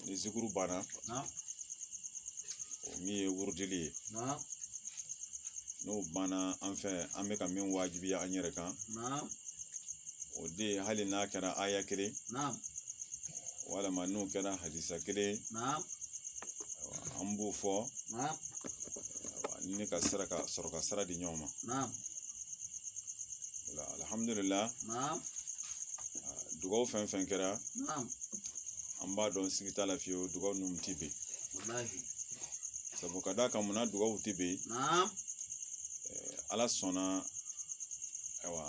ni zikuru banna o min ye wurudili ye n'o banna an fɛ an bɛ ka min wajibiya an yɛrɛ kan o de ye hali n'a kɛra aya kelen walama n'o kɛra hadisa kelen an b'o fɔ ni ka sara ka sɔrɔ ka sira di ɲɔgɔn ma alihamudulila dugaw fɛn fɛn kɛra an b'a dɔn sigi t'a la fiyewu dugaw ninnu tɛ bɛn sabu ka d'a kan munna dugaw tɛ bɛn ala sɔnna ayiwa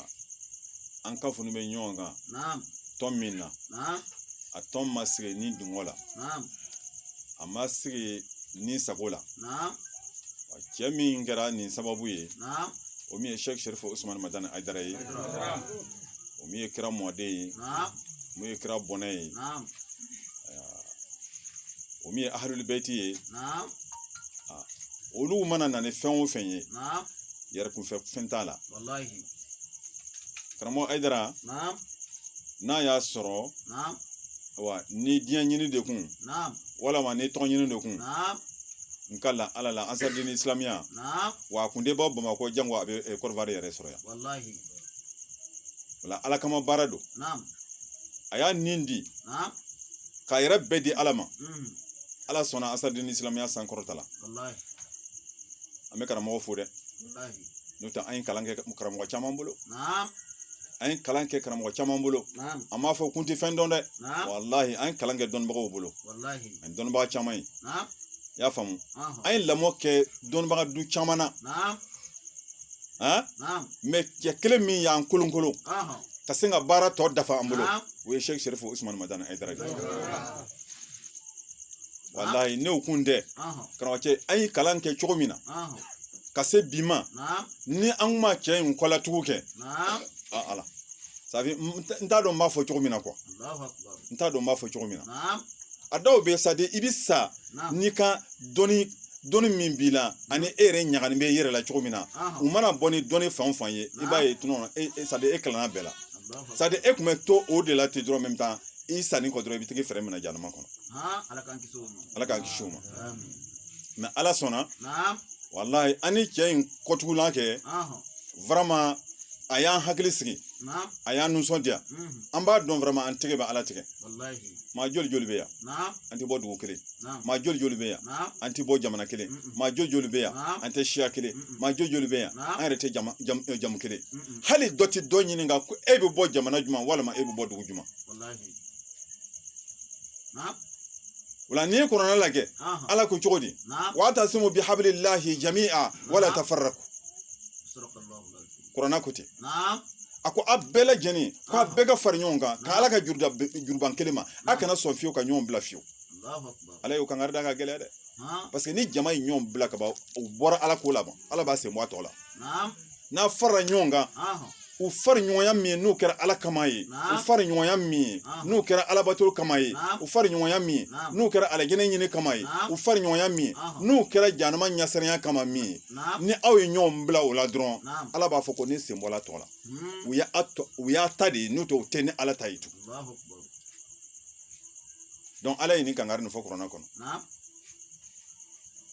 an kafonin bɛ ɲɔgɔn kan tɔn min na a tɔn ma sigi ni dungɔ la a ma sigi ni sago la cɛ min kɛra nin sababu ye o min ye sɛk sɛrifo usumani madani ayidara ye o min ye kira mɔden ye min ye kira bɔnna ye o min ye ahalulibɛti ye olu mana na ni fɛn o fɛn ye yɛrɛ kunfɛ fɛn t'a la karamɔgɔ ayidara n'a y'a sɔrɔ ni diɲɛ ɲini de kun walama ni tɔgɔ ɲini de kun n kalila ala la ansaridini silamɛya wa a kun tɛ bɔ bamakɔ jango a bɛ kɔdiwari yɛrɛ sɔrɔ yan walahi wala ala kama baara don naam a y'a ni di naam k'a yɛrɛ bɛɛ di ala ma mhm, ala sɔnna ansaridini isilamɛya sankɔrɔtala walahi an bɛ karamɔgɔ fo dɛ walahi n'o tɛ an ye kalan kɛ karamɔgɔ caman bolo naam an ye kalan kɛ karamɔgɔ caman bolo naam an m'a fɔ k'u tɛ fɛn dɔn dɛ naam walahi an ye kalan kɛ dɔnnibagaw bolo walahi an ye dɔnnibaga caman ye naam i y'a faamu an ye lamɔ kɛ dɔnnibaga du caman na mais cɛ kelen min y'an kolonkolon ka se ka baara tɔ dafa an bolo o ye sɛki sɛrifo usumani madani ayidara walayi n'o kun tɛ karamɔgɔ cɛ an ye kalan kɛ cogo min na ka se bi ma ni an kun ma cɛ in kɔlatugu kɛ a ala safi n t'a dɔn n b'a fɔ cogo min na quoi n t'a dɔn n b'a fɔ cogo min na a dɔw bɛ sa de i bɛ sa n'i ka dɔnni min b'i la ani e yɛrɛ ɲagali bɛ i yɛrɛ la cogo min na u mana bɔ ni dɔnni fan o fan ye i b'a ye tuma e e sadi e kalanna bɛɛ la sadi e kun bɛ to o de la ten dɔrɔn même temps i sanni kɔ dɔrɔn i bɛ t'i fɛrɛ minɛ jahanama kɔnɔ ala k'an kisi o ma ala k'an kisi o ma mais ala sɔnna walayi an ni cɛ in kɔtugulan kɛ vraiment a y'an hakili sigi a y'an nisɔndiya an b'a dɔn vraiment an tɛgɛ bɛ ala tigɛ maa joli joli bɛ yan an tɛ bɔ dugu kelen maa joli joli bɛ yan an tɛ bɔ jamana kelen maa joli joli bɛ yan an tɛ siya kelen maa joli joli bɛ yan an yɛrɛ tɛ jamu kelen hali dɔ tɛ dɔ ɲininka ko e bɛ bɔ jamana jumɛn walima e bɛ bɔ dugu jumɛn wala n'i ye kurana lajɛ ala ko cogo di wa'tasimu bi habilillahi jami'a wala tafarraku kurana ko ten a ko a bɛɛ lajɛlen ko a bɛɛ ka fara ɲɔgɔn kan ka ala ka juruda juruban kelen ma a kana sɔn fiyewu ka ɲɔgɔn bila fiyewu ala y'o kankari da ka gɛlɛya dɛ parce que ni jama ye ɲɔgɔn bila ka ban u bɔra ala ko la ban ala b'a sen bɔ a tɔ la n'a farala ɲɔgɔn kan u fari ɲɔgɔnya min ye n'o kɛra ala kama ye u fari ɲɔgɔnya min ye n'o kɛra alabato kama ye u fari ɲɔgɔnya min ye n'o kɛra alijɛnɛ ɲini kama ye u fari ɲɔgɔnya min ye n'o kɛra jahanama ɲasiranya kama min ye ni aw ye ɲɔgɔn bila o la dɔrɔn ala b'a fɔ ko ne sen bɔla tɔ la hmm. u y'a ta de ye n'o tɛ u tɛ ni ala ta ye tugun donc ala ye nin kankari nin fɔ kurana kɔnɔ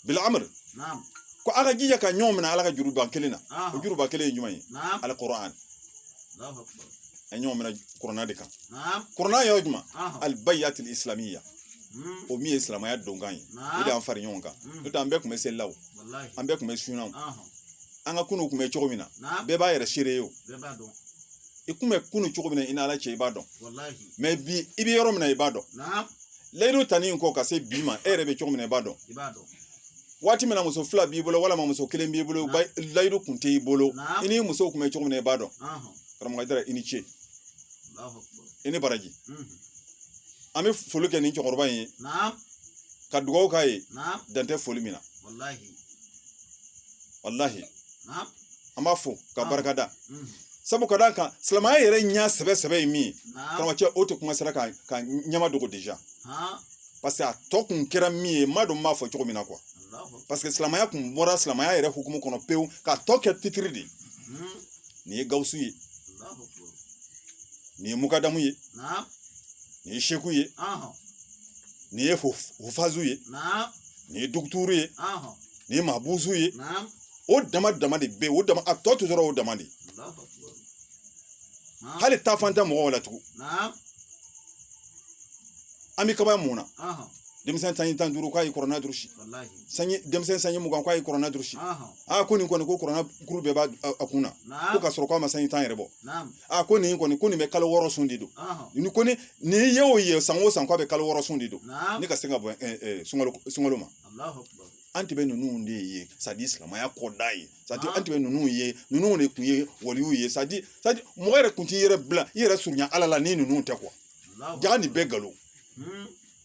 bil amri ko a ka jija ka ɲɔgɔn minɛ ala ka juruba kelen na o juruba kelen ye jumɛn ye alikurani a ɲɔgɔn minɛ kurana de kan kurana yɔrɔ jumɛn albayatul islamiya o min ye silamɛya donkan ye o de y'an fara ɲɔgɔn kan n'o tɛ an bɛɛ tun bɛ seli la o an bɛɛ tun bɛ sun na an ka kunun tun bɛ cogo min na bɛɛ b'a yɛrɛ seere ye o i kun bɛ kunun cogo min na i n'ala cɛ i b'a dɔn mais bi i bɛ yɔrɔ min na i b'a dɔn layidu tali in kɔ ka se bi ma e yɛrɛ bɛ cogo min na i b'a dɔn waati min na muso fila b'i bolo walima muso kelen b'i bolo layidu kun t'i bolo i ni muso kun bɛ cogo min na i b'a dɔn karamɔgɔ jara i ni ce i ni baraji an bɛ foli kɛ nin cɛkɔrɔba in ye ka dugawu k'a ye naam dan tɛ foli min na walahi walahi naam an b'a fo ka Ah. barika da mhm, sabu ka d'a kan silamɛya yɛrɛ ɲɛ sɛbɛ sɛbɛ ye min ye naam karamɔgɔcɛ o tɛ kuma sera ka ka ɲɛmadogo déjà haa parce que a tɔ kun kɛra min ye n m'a dɔn n b'a fɔ cogo min na quoi allahu parce que silamɛya kun bɔra silamɛya yɛrɛ hukumu kɔnɔ pewu k'a tɔ kɛ titiri de ye mhm, nin ye gawusu ye allahu akbar nin ye mukadamu ye naam nin ye seku ye ahɔn nin ye hufazu ye nin ye duguturu ye nin ye mabusu ye o dama dama de bɛ o dama a tɔ tora o dama de hali taafan tɛ mɔgɔw la tugun an bɛ kaba mun na denmisɛn sanji tan ni duuru k'a ye kurana durusi sanji denmisɛn sanji mugan k'a ye kurana durusi a ko nin kɔni ko kurana kuru bɛɛ b'a a kun na ko ka sɔrɔ k'a ma sanji tan yɛrɛ bɔ a ko nin kɔni ko nin bɛ kalo wɔɔrɔ sun de don ni ko ni ni ye o ye san o san k'a bɛ kalo wɔɔrɔ sun de don ni ka se ka bɔ sunkalo sunkalo ma an tun bɛ ninnu de ye c'est-à-dire silamɛya kɔdan ye c'est-à-dire an tun bɛ ninnu ye ninnu de tun ye waliw ye c'est-à-dire c'est-à-dire mɔgɔ yɛrɛ tun t'i yɛrɛ bila i yɛrɛ surunya ala la ni ninnu tɛ quoi jaa nin bɛɛ nkalon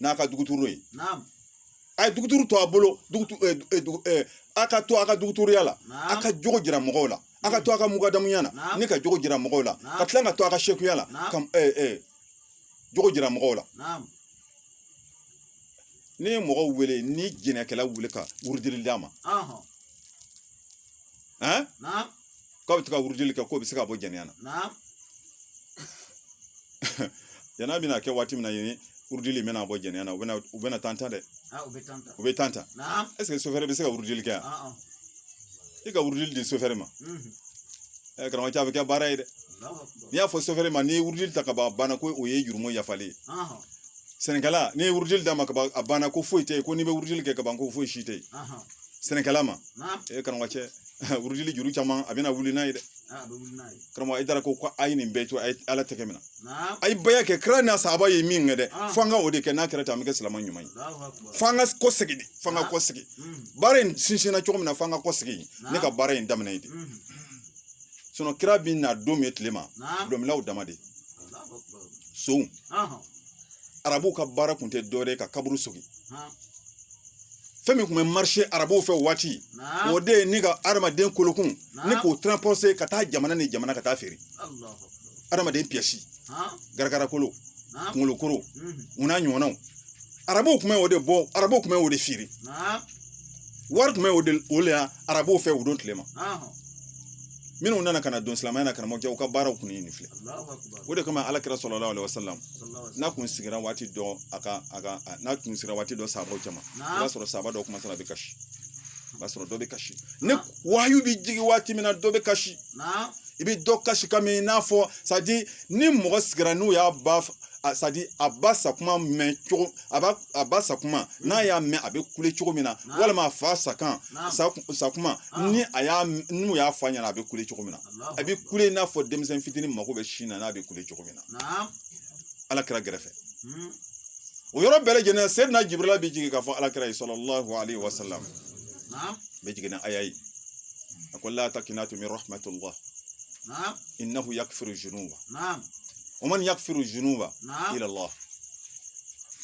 n'a ka dɔgɔtɔrɔ ye a ye dɔgɔtɔrɔ to a bolo a ka to a ka dɔgɔtɔrɔya la a ka jogo jira mɔgɔw la a ka to a ka mukadamuya na ni ka jogo jira mɔgɔw la ka tila ka to a ka sekuya la ka jogo jira mɔgɔw la n'i ye mɔgɔw wele ni jɛnɛkɛla wele ka wurudili d'a ma k'aw bɛ to ka wurudili kɛ k'o bɛ se ka bɔ jɛnɛya na jɛnɛya bɛna kɛ waati min na yen wurudili in bɛna bɔ jɛnɛya na u bɛna u bɛna tan ta dɛ u bɛ tan ta u bɛ tan ta est-ce que sofɛrɛ bɛ se ka wurudili kɛ yan i ka wurudili di sofɛrɛ ma ɛ karamɔgɔcɛ a bɛ kɛ baara ye dɛ n'i y'a fɔ sofɛrɛ ma n'i ye wurudili ta ka ban a banna ko o ye jurumu yafalen ye sɛnɛkɛla n'i ye wurudili d'a ma ka ban a banna ko foyi tɛ yen ko n'i bɛ wurudili kɛ ka ban ko foyi si tɛ yen sɛnɛkɛla ma e karamɔgɔcɛ wurudili juru caman a bɛna wuli n'a ye dɛ karamɔgɔ Ayidara ko a ye nin bɛɛ to a ye ala tɛgɛ minɛ a ye baya kɛ kira n'a sahaba ye min kɛ dɛ f'an ka o de kɛ n'a kɛra ten an bɛ kɛ silamɛ ɲuman ye f'an ka kɔ segin de f'an ka kɔ segin baara in sinsinna cogo min na f'an ka kɔ segin ni ka baara in daminɛ yen de sinon kira bɛ na don min tile ma dɔlɔminnaw dama de sow arabuw ka baara kun tɛ dɔwɛrɛ ye ka kaburu sogin fɛn min tun bɛ marché arabuw fɛ waati o de ye ni ka adamaden kolokun ni k'o transporter ka taa jamana ni jamana ka taa feere adamaden pièce garagara kolo kunkolo koro u n'a ɲɔgɔnnaw arabuw tun bɛ o de bɔ arabuw tun bɛ o de feere wari tun bɛ o de o de la arabuw fɛ o don tile ma minnu nana ka na don silamɛya la karamɔgɔcɛ u ka baaraw kun ye nin filɛ o de kama ala kira salalahu alayhi wa salam n'a kun sigira waati dɔ a ka a ka n'a kun sigira waati dɔ sahabaw cɛma i b'a sɔrɔ sahaba dɔ kɔmansera a bɛ kasi o b'a sɔrɔ dɔ bɛ kasi ni wahayu bɛ jigin waati min na dɔ bɛ kasi i bɛ dɔ kasikan mɛn i n'a fɔ c'est-à-dire ni mɔgɔ sigira n'u y'a ba c'est-à-dire a ba sakuma mɛn cogo a ba a ba sakuma n'a y'a mɛn a bɛ kule cogo min na walima a fa sakan sakuma ni a y'a n'u y'a fɔ a ɲɛna a bɛ kule cogo min na a bɛ kule i n'a fɔ denmisɛnnin fitinin mako bɛ sin na n'a bɛ kule cogo min na ala kira gɛrɛfɛ hmm. o yɔrɔ bɛɛ lajɛlen seyidina jibirila bɛ jigin k'a fɔ ala kira ye salalahu alayhi wa salam bɛ jigin ni aya ye a ko la takinatu min rahmatullah innahu yakfiru junuba waman yakfiru junuba ila Allah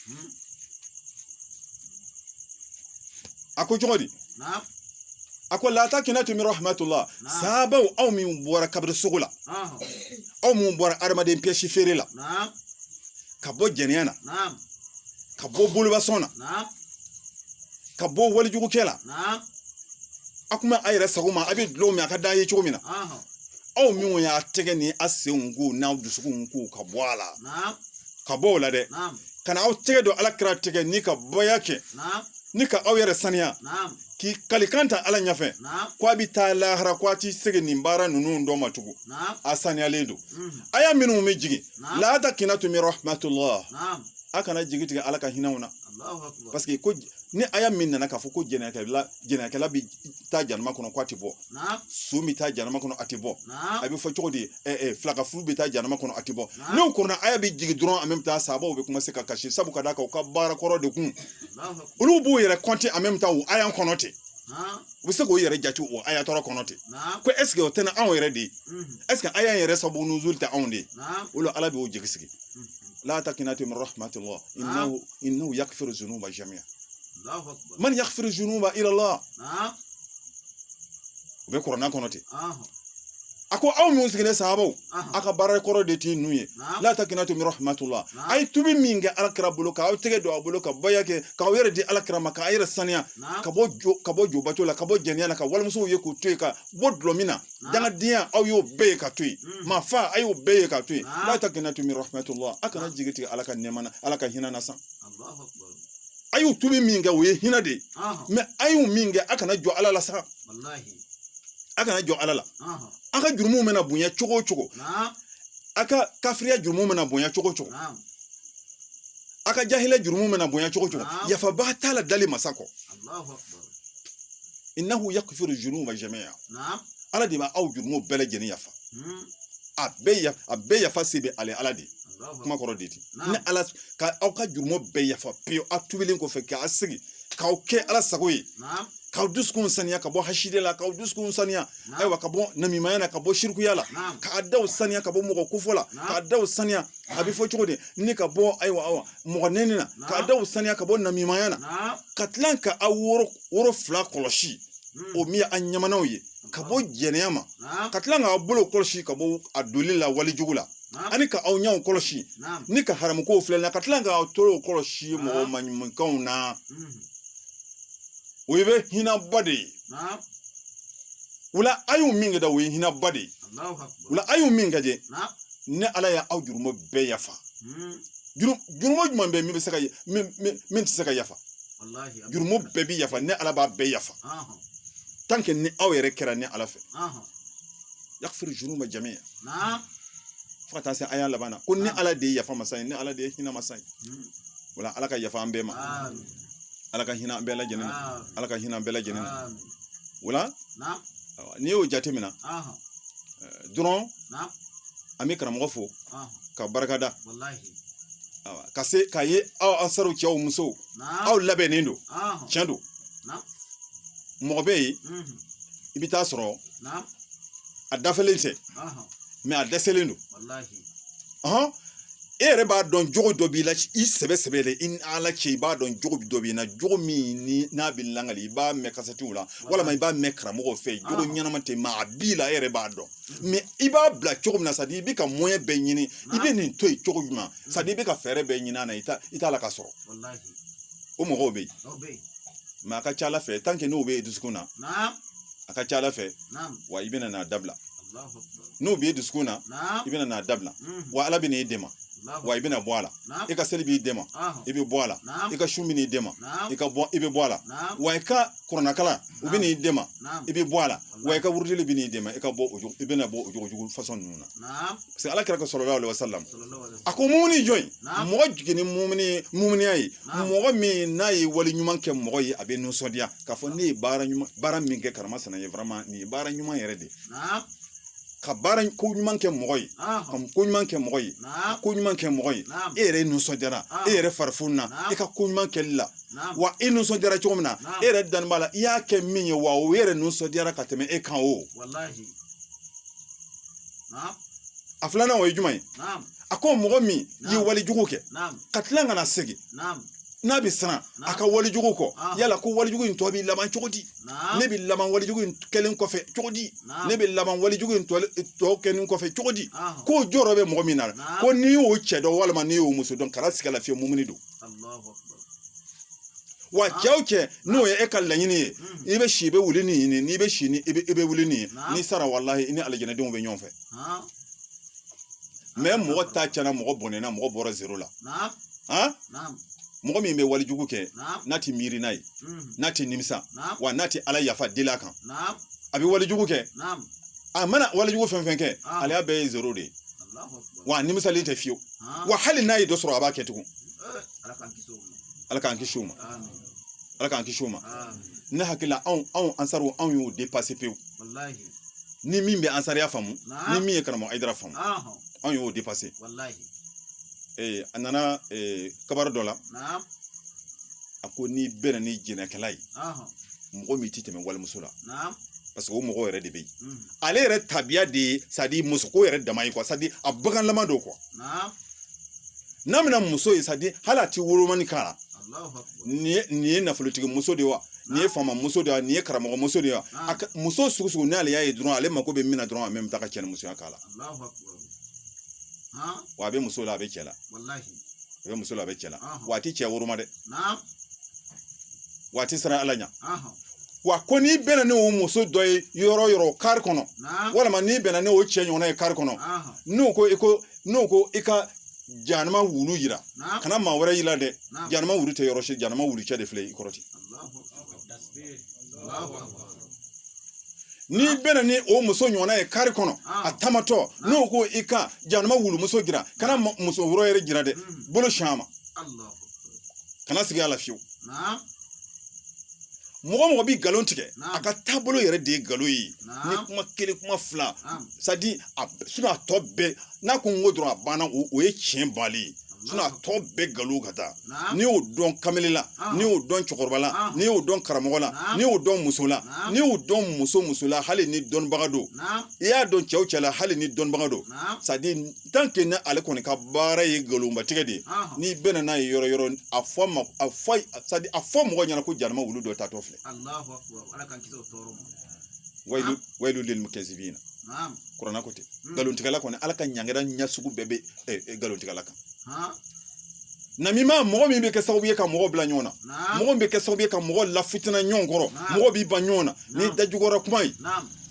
hmm. a ko cogo di a ko la takinatu min rahmatullah sahabaw aw min bɔra kabiri sogo la aw min bɔra adamaden piyɛsi feere la ka bɔ jɛnɛya na ka bɔ boliba sɔn na ka bɔ walejugukɛ la a kuma a yɛrɛ sago ma a bɛ dulɔ min a ka d'a ye cogo min na aw minnu y'a tɛgɛ ni a senw ko n'aw dusukunw ko ka bɔ a la ka bɔ o la dɛ ka na aw tɛgɛ don ala kira tɛgɛ ni ka baya kɛ ni ka aw yɛrɛ saniya k'i kalikan ta ala ɲɛfɛ ko a bɛ taa lahara ko a t'i segin nin baara ninnu dɔ ma tugun a saniyalen don aya minnu bɛ jigin la takinatu min rahmatullah a kana jigi tigɛ ala ka hinɛ na parce que ko ni aya min nana k'a fɔ ko jɛnɛkɛla jɛnɛkɛla bɛ taa janama kɔnɔ ko a tɛ bɔ son bɛ taa janama kɔnɔ a tɛ bɔ a bɛ fɔ cogo di filankafo bɛ taa janama kɔnɔ a tɛ bɔ n'o ɲɔgɔnna aya bɛ jigin dɔrɔn en même temps sahabaw bɛ commencer ka kasi sabu ka d'a kan u ka baara kɔrɔ de kun olu b'u yɛrɛ kɔnte en même temps o aya kɔnɔ ten u bɛ se k'o yɛrɛ jate o aya tɔɔrɔ kɔnɔ ten ko ɛseke o tɛna anw yɛrɛ de ye ɛseke aya yɛrɛ sababu nuzuli tɛ anw de ye o la ala b'u jigi sigi la takinatu min rahmatullah innahu yakfiru zunuba jamiya Allahu akbar man yaghfiru dhunuba ila Allah na'am o bɛ kurana kɔnɔ ten a ko aw minnu sigilen sahabaw a ka baara kɔrɔ de t'i nu ye la takinatu min rahmatullah a ye tubi min kɛ ala kira bolo k'aw tɛgɛ don a bolo ka baya kɛ k'aw yɛrɛ di ala kira ma k'a yɛrɛ saniya ka bɔ jo ka bɔ jobato la ka bɔ jɛnɛya la ka walimusow ye k'u to yen ka bɔ dulɔ min na dangadenya aw y'o bɛɛ ye ka to yen hmm. maa fa a y'o bɛɛ ye ka to yen la takinatu min rahmatullah a kana jigi tigɛ ala ka nɛɛma na ala ka hinɛ na sa a y'o tubi min kɛ o ye hinɛ de ye mɛ a y'o min kɛ a kana jɔ ala la sa a kana jɔ ala la a ka jurumu mana bonya cogo o cogo a ka kafiriya jurumu mana bonya cogo o cogo a ka jahiliya jurumu mana bonya cogo o cogo yafabaa t'a la dali masa kɔ innahu yakfiru junuba jami'a ala de bɛ aw jurumu bɛɛ lajɛlen yafa a bɛɛ yafa a bɛɛ yafa se bɛ ale ala de ye kuma kɔrɔ de di ni ala ka aw ka jurumu bɛɛ yafa pewu aw tubilen kɔfɛ k'aw sigi k'aw kɛ ala sago ye k'aw dusukun saniya ka bɔ hasidi la k'aw dusukun saniya ayiwa ka bɔ namimaya la ka bɔ sirikuya la k'a daw saniya ka bɔ mɔgɔ kofɔ la k'a daw saniya a bɛ fɔ cogo di ni ka bɔ ayiwa awa mɔgɔ nɛni na k'a daw saniya ka bɔ namimaya na ka tila ka aw woro woro fila kɔlɔsi hmm. o min ye an ɲamanaw ye ka bɔ jɛnɛya ma ka tila k'a bolo kɔlɔsi ka bɔ a donli la walejugu la ani ka aw ɲɛw kɔlɔsi ni ka haramukow filɛ na ka tila ka aw tulow kɔlɔsi mɔgɔ maɲumankanw na o ye bɛ hinaba de ye wala a y'u min kɛ da o ye hinaba de ye wala a y'u min kajɛ ne ala y' aw jurumu bɛɛ yafa jurumu jumɛn bɛ min bɛ se ka min tɛ se ka yafa jurumu bɛɛ bɛ yafa ne ala b'a bɛɛ yafa tant que ni aw yɛrɛ kɛra ne ala fɛ yagfiru zunuba jami'a fo ka taa se aya laban na ko ne ala de ye yafa masa ye ne ala de ye hinɛ masa ye wala ala ka yafa an bɛɛ ma ala ka hinɛ an bɛɛ lajɛlen ala ka hinɛ an bɛɛ lajɛlen wala n'i y'o jate minɛ dɔrɔn an bɛ karamɔgɔ fo ka barika da ka se k'a ye aw ansaru cɛw musow aw labɛnnen don tiɲɛ don mɔgɔ bɛ yen i bɛ taa sɔrɔ a dafalen tɛ mais a dɛsɛlen don hɔn e yɛrɛ b'a dɔn jogo dɔ b'i la i sɛbɛ sɛbɛ de i ni ala cɛ i b'a dɔn jogo dɔ b'i na jogo min ni n'a bɛ lakali i b'a mɛn kasɛtiw la walima i b'a mɛn karamɔgɔw fɛ jogo ɲɛnama tɛ mais a b'i la e yɛrɛ b'a dɔn mais i b'a bila cogo min na sadi i bɛ ka moyen bɛɛ ɲini i bɛ nin to yen cogo jumɛn sadi i bɛ ka fɛɛrɛ bɛɛ ɲini a na i t'a la ka sɔrɔ o mɔgɔw bɛ yen mais a ka ca ala fɛ n'o b'i dusukun na a ka ca ala fɛ wa i bɛna n'a dabila n'o b'i dusukun na i bɛna n'a dabila wa ala bɛ n'i dɛmɛ wa i bɛna bɔ a la i ka seli b'i dɛmɛ i bɛ bɔ a la i ka sun bɛ n'i dɛmɛ i ka bɔ i bɛ bɔ a la wa i ka kuranɛkalanw bɛ n'i dɛmɛ i bɛ bɔ a la wa i ka wurudili bɛ n'i dɛmɛ i ka bɔ o i bɛna bɔ o jogo jugu fasɔn ninnu na parce que ala kira salalahu alayi wa salam a ko mumuni jɔn mɔgɔ jiginni mumuni a ye mɔgɔ min n'a ye wali ɲuman kɛ mɔgɔ ye a bɛ nisɔndiya k'a fɔ ne ye baara min kɛ karimasina ye nin ye baara ɲuman yɛrɛ de ye ka baara ko ɲuman kɛ mɔgɔ ye ka ko ɲuman kɛ mɔgɔ ye ko ɲuman kɛ mɔgɔ ye e yɛrɛ nisɔndiyara e yɛrɛ fari fonina e ka ko ɲuman kɛli la wa e nisɔndiyara cogo min na e yɛrɛ dalen b'a la i y'a kɛ min ye wa o yɛrɛ nisɔndiyara ka tɛmɛ e kan o a filanan o ye jumɛn ye a ko mɔgɔ min ye walijugu kɛ ka tila ka na segin n'a bɛ siran a ka walijugu kɔ yala ko walijugu in tɔ bɛ laban cogo di ne bɛ laban walijugu in kɛlen kɔfɛ cogo di ne bɛ laban walijugu in tɔ kɛlen kɔfɛ cogo di k'o jɔrɔ bɛ mɔgɔ min na ko n'i y'o cɛ dɔn walima n'i y'o muso dɔn kana siga a la fiyewu mumuni don wa cɛw cɛ n'o ye e ka laɲini ye i bɛ si i bɛ wuli ni nin n'i bɛ si ni i bɛ wuli ni n'i sara walahi i ni alijanadenw bɛ ɲɔgɔn fɛ mais mɔgɔ ta cɛna mɔgɔ bɔnɛna mɔgɔ bɔra zero la mɔgɔ min bɛ walijugu kɛ n'a tɛ miiri n'a ye n'a tɛ nimisa wa n'a tɛ ala yafa deli a kan a bɛ walijugu kɛ a mana walijugu fɛn fɛn kɛ ale y'a bɛɛ ye zero de ye wa nimisali tɛ fiyewu wa hali n'a ye dɔ sɔrɔ a b'a kɛ tugun ala k'an kisi o ma ala k'an kisi o ma ne hakilila anw anw ansariw anw y'o dépasser pewu ni min bɛ ansariya faamu ni min ye karamɔgɔ ayidara faamu anw y'o dépasser ee a nana kabari dɔ la a ko n'i bɛnna ni jɛnɛkɛla ye mɔgɔ min ti tɛmɛ walimuso la parce que o mɔgɔ yɛrɛ de bɛ yen ale yɛrɛ tabiya de ye c'est-à-dire musoko yɛrɛ dama ye quoi c'est-à-dire a baganlama don quoi n'a mana muso ye c'est-à-dire hali a ti wolomani k'a la nin ye nafolotigi muso de ye wa nin ye faama muso de ye nin ye karamɔgɔ muso de ye wa muso sugu sugu n'ale y'a ye dɔrɔn ale mako bɛ min na dɔrɔn a bɛ taa ka cɛnimusoya k'a la wa a bɛ muso la a bɛ cɛ la a bɛ muso la a bɛ cɛ la wa a tɛ cɛ woroma dɛ wa a tɛ siran ala ɲɛ wa ko n'i bɛnna n'o muso dɔ ye yɔrɔ yɔrɔ kari kɔnɔ walima n'i bɛnna n'o cɛ ɲɔgɔnna ye kari kɔnɔ n'o ko i ko n'o ko i ka janama wulu jira kana maa wɛrɛ yira dɛ janama wulu tɛ yɔrɔ si janama wulu cɛ de filɛ i kɔrɔ ten n'i bɛnna ni o muso ɲɔgɔnna ye kari kɔnɔ a taamatɔ n'o ko i ka janama wulumuso jira kana muso wɛrɛ yɛrɛ jira dɛ bolo sin a ma kana sigi a la fiyewu mɔgɔ o mɔgɔ bɛ nkalon tigɛ a ka taabolo yɛrɛ de ye nkalon ye ni kuma kelen kuma fila c'est-à-dire a sinon a tɔ bɛɛ n'a ko n ko dɔrɔn a banna o ye tiɲɛ bali ye sinon a tɔ bɛɛ nkalon ka taa n'i y'o dɔn kamalen la n'i y'o dɔn cɛkɔrɔba la n'i y'o dɔn karamɔgɔ la n'i y'o dɔn muso la n'i y'o dɔn muso o muso la hali ni dɔnnibaga don i y'a dɔn cɛ o cɛ la hali ni dɔnnibaga don c'est-à-dire ni ale kɔni ka baara ye nkalonbatigɛ de ye n'i bɛnna n'a ye yɔrɔ yɔrɔ a fɔ a ma a fɔ a fɔ mɔgɔ ɲɛna ko janama wulu dɔ taatɔ filɛ wayilu lili mukazibina kuranɛ ko ten nkalontigɛla kɔni ala ka ɲangɛra ɲɛ sugu bɛɛ bɛ nkalontigɛla kan namima mɔgɔ min bɛ kɛ sababu ye ka mɔgɔ bila ɲɔgɔn na mɔgɔ min bɛ kɛ sababu ye ka mɔgɔ lafitina ɲɔgɔn kɔrɔ mɔgɔ b'i ban ɲɔgɔn na ni dajukɔrɔ kuma ye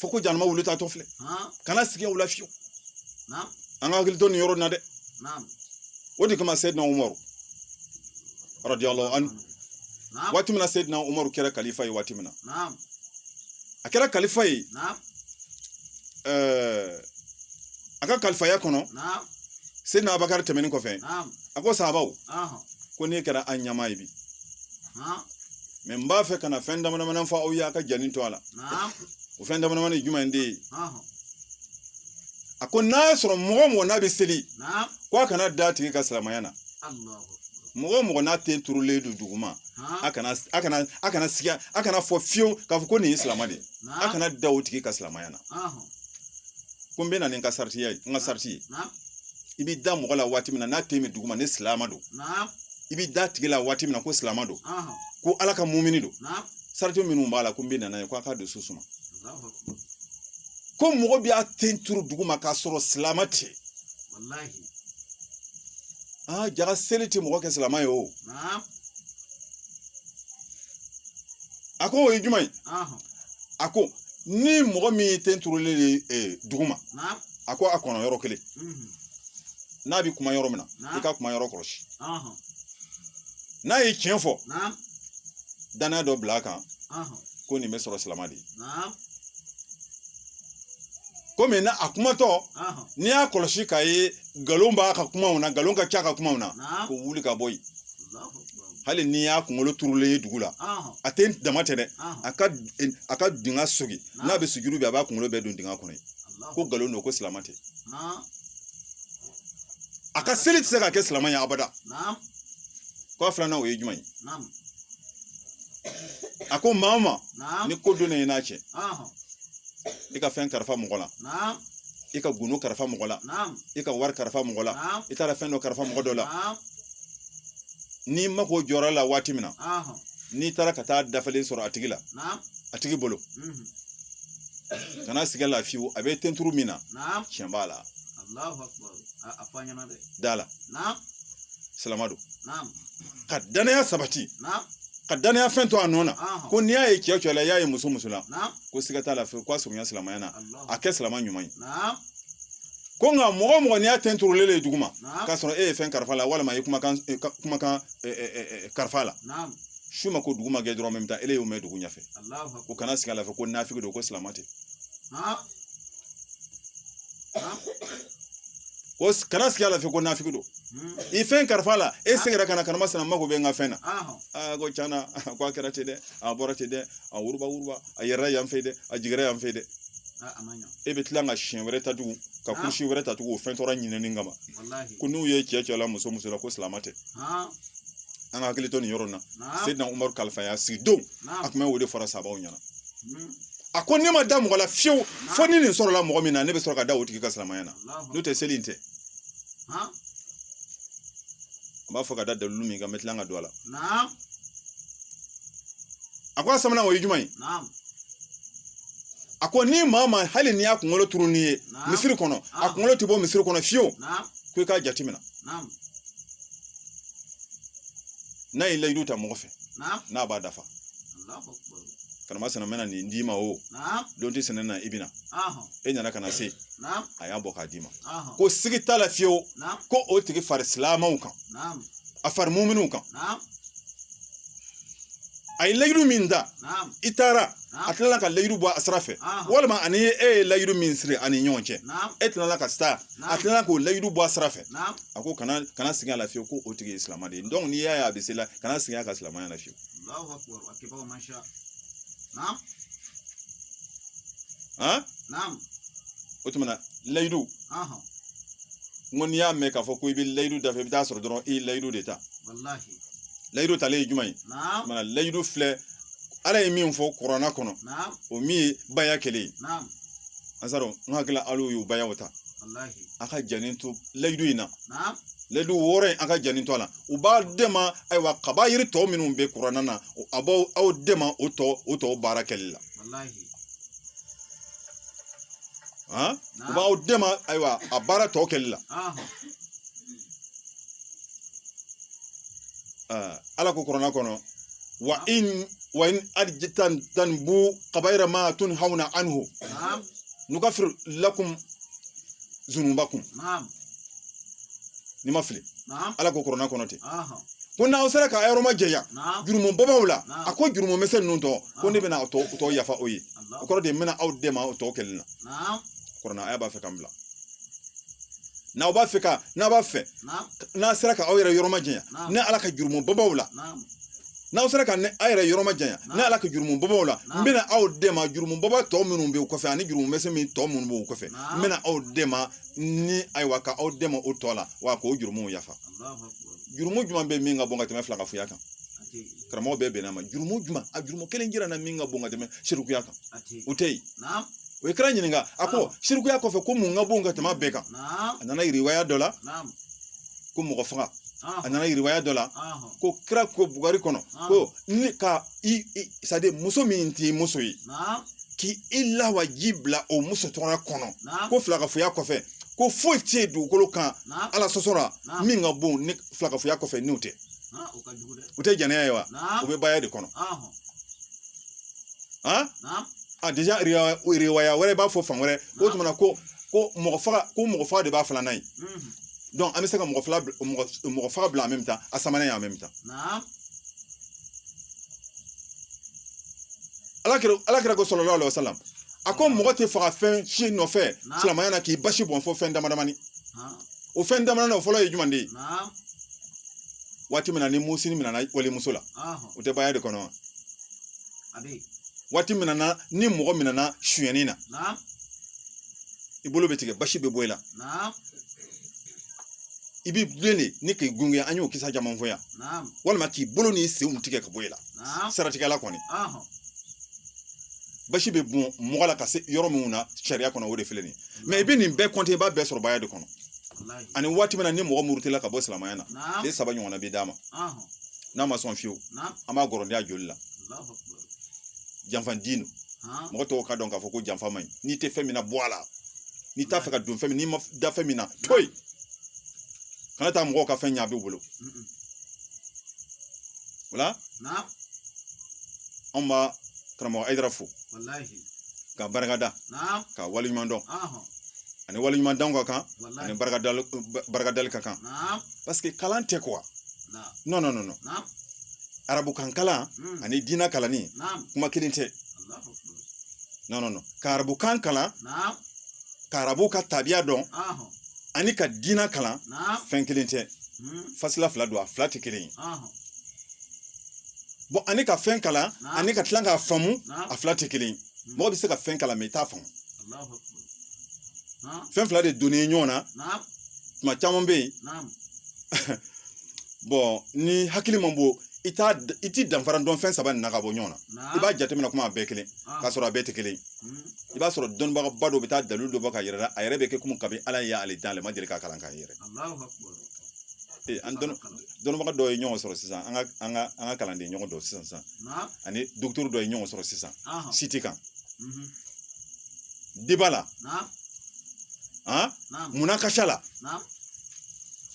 fɔ ko janama wulu taatɔ filɛ kana sigiya o la fiyewu an ka hakili to nin yɔrɔ in na dɛ o de kama seyidina umaru radiyallahu anhu waati min na seyidina umaru kɛra kalifa ye waati min na a kɛra kalifa ye eh, a ka kalifaya kɔnɔ seyidina abakari tɛmɛni kɔfɛ a ko sahabaw ko ne kɛra an ɲɛmaa ye bi mɛ n b'a fɛ ka na fɛn damadamanin fɔ aw ye a k'a janto a la o fɛn damadamanin ye jumɛn de ye a ko n'a y'a sɔrɔ mɔgɔ o mɔgɔ n'a bɛ seli ko a kana da a tigi ka silamaya na mɔgɔ o mɔgɔ n'a ten turulen don duguma a kana a kana a kana sigi a kana fɔ fiyewu k'a fɔ ko nin ye silamɛ de ye a kana da o tigi ka silamaya na ko n bɛ na ni n ka sariti ye n ka sariti ye i b'i da mɔgɔ la waati min na n'a ten bɛ duguma ne silamɛ don i b'i da a tigi la waati min na ko silamɛ don ko ala ka mumini don sariti minnu b'a la ko n bɛ na n'a ye ko a k'a dusu suma ko mɔgɔ bɛ a ten turu duguma k'a sɔrɔ silamɛ tɛ aa jaga seli tɛ mɔgɔ kɛ silamɛ ye o a ko o ye jumɛn ye a ko ni mɔgɔ min ye ten turulen de ye duguma a ko a kɔnɔ yɔrɔ kelen n'a bɛ kuma yɔrɔ min na i k'a kuma yɔrɔ kɔlɔsi n'a ye tiɲɛ fɔ danaya dɔ bila a kan ko nin bɛ sɔrɔ silamɛ de ye komi na a kumatɔ n'i y'a kɔlɔsi k'a ye nkalon b'a ka kumaw na nkalon ka ca a ka kumaw na ko wuli ka bɔ yen hali n'i y'a kunkolo turulen ye dugu la a ten dama tɛ dɛ a ka a ka dingɛ sogi n'a bɛ sujuru bi a b'a kunkolo bɛɛ don dingɛ kɔnɔ yen ko nkalon don ko silamɛ tɛ a ka seli tɛ se k'a kɛ silamɛ ye abada k'a filanan o ye jumɛn ye a ko maa o maa ni ko donna i n'a cɛ i ka fɛn kalifa mɔgɔ la i ka gundo kalifa mɔgɔ la i ka wari kalifa mɔgɔ la i taara fɛn dɔ kalifa mɔgɔ dɔ la n'i mako jɔra a la waati min na n'i taara ka taa a dafalen sɔrɔ a tigi la a tigi bolo kana siga a la fiyewu a bɛ ten turu min na tiɲɛ b'a la da a la silama don ka danaya sabati ka danaya fɛn to a nɔ na ko n'i y'a ye cɛ o cɛ la i y'a ye muso o muso la ko siga t'a la fiyewu k'a surunya silamɛya na a kɛ silama ɲuman ye ko nka mɔgɔ o mɔgɔ n'i y'a ten turulen ye duguma k'a sɔrɔ e ye fɛn kalifa a la walima i ye kumakan kumakan kalifa a la su ma ko dugu ma jɛ dɔrɔn min ta e y'o mɛn dugu ɲɛfɛ ko kana siga a la fewu ko nafiki don ko silama tɛ ko kana siga a la fewu ko nafiki don i fɛn kalifa a la e seginna ka na ka na maasina n mako bɛ n ka fɛn na aa ko a tiɲɛna ko a kɛra ten dɛ a bɔra ten dɛ a wuruba wuruba a yera yan fɛ dɛ a jiginna yan fɛ dɛ e bɛ tila ka siɲɛ wɛrɛ ta tugun ka kusi wɛrɛ ta tugun o fɛn tɔɔrɔ ɲinini kama ko n'u ye cɛ cɛ la muso muso la ko silamɛ tɛ an ka hakili to nin yɔrɔ in na seyidina umaru kalifaya sigi don a kuma o de fɔra sabaw ɲɛna a ko ne ma da mɔgɔ la fiyewu fo ni nin sɔrɔla mɔgɔ min na ne bɛ sɔrɔ ka da o tigi ka silamɛya na n'o tɛ seli in tɛ an b'a fɔ ka da dalilu min kan n bɛ tila ka don a la a ko a sabanan o ye jumɛn ye a ko ni maa ma hali n'i y'a kunkolo turunen ye misiri kɔnɔ a kunkolo tɛ bɔ misiri kɔnɔ fiyewu ko i k'a jateminɛ n'a ye layidu ta mɔgɔ fɛ n'a b'a dafa karamasina n bɛna nin d'i ma o don tisina na i bɛ na e nana ka na se a y'a bɔ k'a d'i ma ko siga t'a la fiyewu ko o tigi fara silamaw kan a fara muminuw kan a ye layidu min ta i taara a tilala ka layidu bɔ a sira fɛ walima ani e ye layidu min siri ani ɲɔgɔn cɛ e tilala ka sa a tilala k'o layidu bɔ a sira fɛ a ko kana kana siga a la fiyewu ko o tigi ye silamɛ de ye donc n'i y'a ye a bɛ seli la kana siga a ka silamɛya la fiyewu o tuma na layidu n ko n'i y'a mɛn k'a fɔ ko i bɛ layidu dafa i bɛ taa sɔrɔ dɔrɔn i ye layidu de ta layidu talen ye jumɛn ye mana layidu filɛ ala ye min fɔ kurana kɔnɔ o min ye baya kelen ye ansaru n hakili la aw y'o baya o ta a ka janni to layidu in na layidu wɔɔrɔ in a ka janni to a la o b'aw dɛmɛ ayiwa kabayiri tɔ minnu bɛ kurana na a b'aw aw dɛmɛ o tɔ o tɔ baara kɛli la o b'aw dɛmɛ ayiwa a baara tɔ kɛli la ala ko kurana kɔnɔ wa in tajitanibu kabayira ma tunhawna anhu nukafiru lakum zunubakum nin mafilɛ ala ko kurana kɔnɔ ten ko n'aw sera k'aw yɔrɔ majanya jurumu babaw la a ko jurumu mɛsɛn ninnu tɔ ko ne bɛna tɔ yafa aw ye o kɔrɔ de ye n bɛna aw dɛmɛ o tɔ kɛli la ko n'aw b'a fɛ k'a bila n'aw b'a fɛ ka n'a b'a fɛ n'a sera ka aw yɛrɛ yɔrɔ majanya ne ala ka jurumu babaw la n'aw sera ka aw yɛrɛ yɔrɔ majanya ne ala ka jurumu babaw la n bɛna aw dɛmɛ jurumu baba tɔ minnu bɛ kɔfɛ ani jurumu mɛsɛn min tɔ minnu b'u kɔfɛ n bɛna aw dɛmɛ ni ayiwa ka aw dɛmɛ o tɔ la wa k'o jurumu yafa jurumu jumɛn bɛ min ka bon ka tɛmɛ filankafo kan karamɔgɔ bɛɛ bɛnna a ma jurumu juma a jurumu kelen jira n na min ka bon ka tɛmɛ sirikuya kan o tɛ yen u ye kira ɲininka a ko sirikuya kɔfɛ ko mun ka bon ka tɛmɛ bɛɛ kan a nana riwaya dɔ la ko mɔgɔ faga a nana riwaya dɔ la ko kira ko bukari kɔnɔ ko ni ka i sadi muso min t'i muso ye k'i i lawaji bila o muso tɔgɔya kɔnɔ ko filankafoya kɔfɛ ko foyi tɛ yen dugukolo kan ala sɔsɔ la min ka bon ni filankafoya kɔfɛ n'o tɛ o tɛ jɛnɛya wa o bɛ baaya de kɔnɔ deja riwaya wɛrɛ b'a fɔ fan wɛrɛ o tuma ko ko mɔgɔ faga ko mɔgɔ faga de b'a filanan ye an bɛ se ka mɔgɔ fila mɔgɔ faga bila en même temps a sabanan en même temps ala ala kira ko salalahu alayihi wa salamu a ko mɔgɔ tɛ faga fɛn si nɔfɛ silamɛya na k'i basi bɔn fo fɛn damadamani o fɛn dama na o fɔlɔ ye jumɛn de ye waati min na ni musini min nana walimuso la o tɛ baaya de kɔnɔ wa waati min na ni mɔgɔ min nana sonyani na i bolo bɛ tigɛ basi bɛ bɔ i la i b'i bilen de ni k'i gunge an y'o kisa caman fɔ yan walima k'i bolo n'i senw tigɛ ka bɔ i la siratigɛla kɔni basi bɛ bɔn mɔgɔ la ka se yɔrɔ minnu na sariya kɔnɔ o de filɛ nin ye mɛ i bɛ nin bɛɛ kɔnte i b'a bɛɛ sɔrɔ baaya de kɔnɔ ani waati min na ni mɔgɔ murutila ka bɔ silamɛya na tile saba ɲɔgɔnna bɛ d'a ma n'a ma sɔn fiyewu an b'a gɔrɔndenya joli la janfa den mɔgɔ tɔw ka dɔn k'a fɔ ko janfa man ɲi n'i tɛ fɛn min na bɔ a la n'i t'a fɛ ka don fɛn min na n'i ma da fɛn min na to yen kana taa mɔgɔw ka fɛn ɲɛ a b'i bolo o la an bɛ karamɔgɔ ayidara fo ka barika da ka waleɲuman dɔn ani waleɲuman dɔn ka kan ani barikadali ka kan paseke kalan tɛ kuwa nɔn nɔn nɔn arabukan kalan hmm. ani diinɛ kalanni kuma kelen tɛ nɔn nɔn ka arabukan kalan ka arabu ka tabiya dɔn ani ka diinɛ kalan fɛn kelen tɛ fasila fila don a fila tɛ kelen ye bɔn ani ka fɛn kalan ani ka tila k'a faamu a fila tɛ kelen ye mɔgɔ bɛ se ka fɛn kalan mɛ i t'a faamu fɛn fila de donnen ye ɲɔgɔn na tuma caman bɛ yen bɔn ni hakili man bon i t'a i ti danfara dɔn fɛn saba nin na ka bɔ ɲɔgɔn na i b'a jateminɛ komi a bɛɛ kelen ah. k'a sɔrɔ a bɛɛ tɛ kelen hmm. i b'a sɔrɔ dɔnnibagaba dɔ bɛ taa dalilu dɔ bɔ k'a yira i la a yɛrɛ bɛ kɛ komi kabi ala ye ale dan ale ma deli ka kalan kɛ yɛrɛ an dɔnnibaga dɔw ye ɲɔgɔn sɔrɔ sisan an ka an ka an ka kalanden ɲɔgɔn dɔ sisan sisan ani docteur dɔ ye ɲɔgɔn sɔrɔ sisan siti kan deba la munakasha la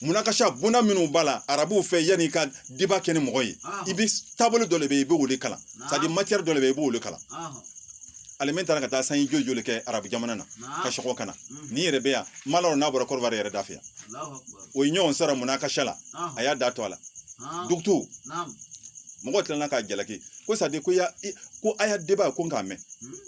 munakasha bonda minnu b'a la arabuw fɛ yanni ka deba kɛ ni mɔgɔ ye i bɛ taabolo dɔ le bɛ yen i b'o le kalan sadi matiyɛri dɔ le bɛ yen i b'o le kalan ale min taara ka taa sanji joli joli kɛ arabu jamana na ka sɔrɔ ka na ni yɛrɛ bɛ yan malo n'a bɔra kɔrɔbara yɛrɛ da fɛ yan o ye ɲɔgɔn sɔrɔ munakasha la a y'a da to a la docteur mɔgɔ tilala k'a jalaki ko sadi ko ya ko a y'a deba ko k'a mɛn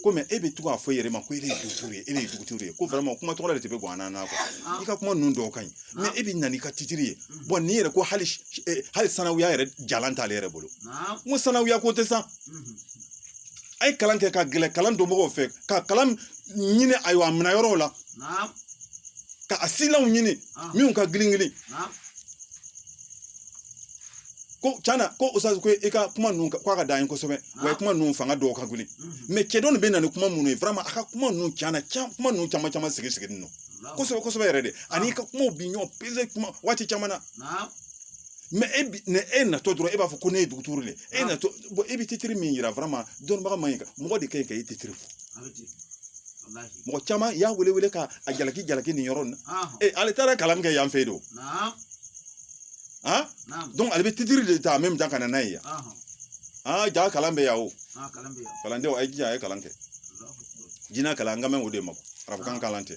ko mɛ e bɛ to k'a fɔ i yɛrɛ ma ko e de ye docteur ye e de ye docteur ye ko vraiment kuma tɔgɔ de tɛ bɛ gan an na quoi i ka kuma ninnu dɔw ka ɲi mɛ e bɛ na n'i ka titiri ye bon nin yɛrɛ ko hali hali sanawuya yɛrɛ jala t'ale yɛrɛ bolo n ko sanawuya ko tɛ san a ye kalan kɛ ka gɛrɛ kalan dɔn mɔgɔw fɛ ka kalan ɲini ayiwa a minɛ yɔrɔw la ka a silaw ɲini minnu ka girin girin ko tiɲɛna ko ustaz ko i ka kuma ninnu k'a ka d'an ye kosɛbɛ wa kuma ninnu fanga dɔw ka gili mɛ cɛ dɔ nin bɛ na ni kuma minnu ye vraiment a ka kuma ninnu tiɲɛna kuma ninnu caman caman sigi siginin don kosɛbɛ kosɛbɛ yɛrɛ de ani ka kumaw bi ɲɔgɔn peze kuma waati caman na mɛ e natɔ dɔrɔn e b'a fɔ ko ne ye docteur de ye e na e bɛ titiri min yira dɔnnibaga man ɲi mɔgɔ de ka ɲi ka e titiri fɔ mɔgɔ caman y'a wele wele ka a jalaki jalaki nin yɔrɔ nin na ee ale taara kalan kɛ yan fɛ yen don donc ale bɛ titiri de ta en même temps ka na n'a ye yan aa ja kalan bɛ yan o kalandenw a ye jija a ye kalan kɛ diinɛ kalan an kan bɛ o de ma arabukan kalan tɛ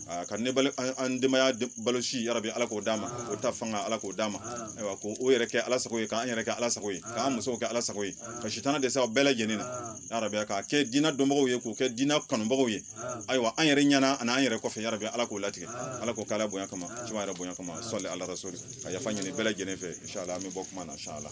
a ka ne balo an denbaya balo si yarabi ala k'o d'a ma o ta fanga ala k'o d'a ma ayiwa ko o yɛrɛ kɛ ala sago ye k'an yɛrɛ kɛ ala sago ye k'an musow kɛ ala sago ye ka sitana dɛsɛ aw bɛɛ lajɛlen na yarabi k'a kɛ diinɛ dɔnbagaw ye k'o kɛ diinɛ kanubagaw ye ayiwa an yɛrɛ ɲɛna ani an yɛrɛ kɔfɛ yarabi ala k'o latigɛ ala k'o k'ala bonya kama juma yɛrɛ bonya kama sɔli ala rasuli ka yafa ɲini bɛɛ lajɛlen fɛ inshallah an bɛ bɔ kuma na inshallah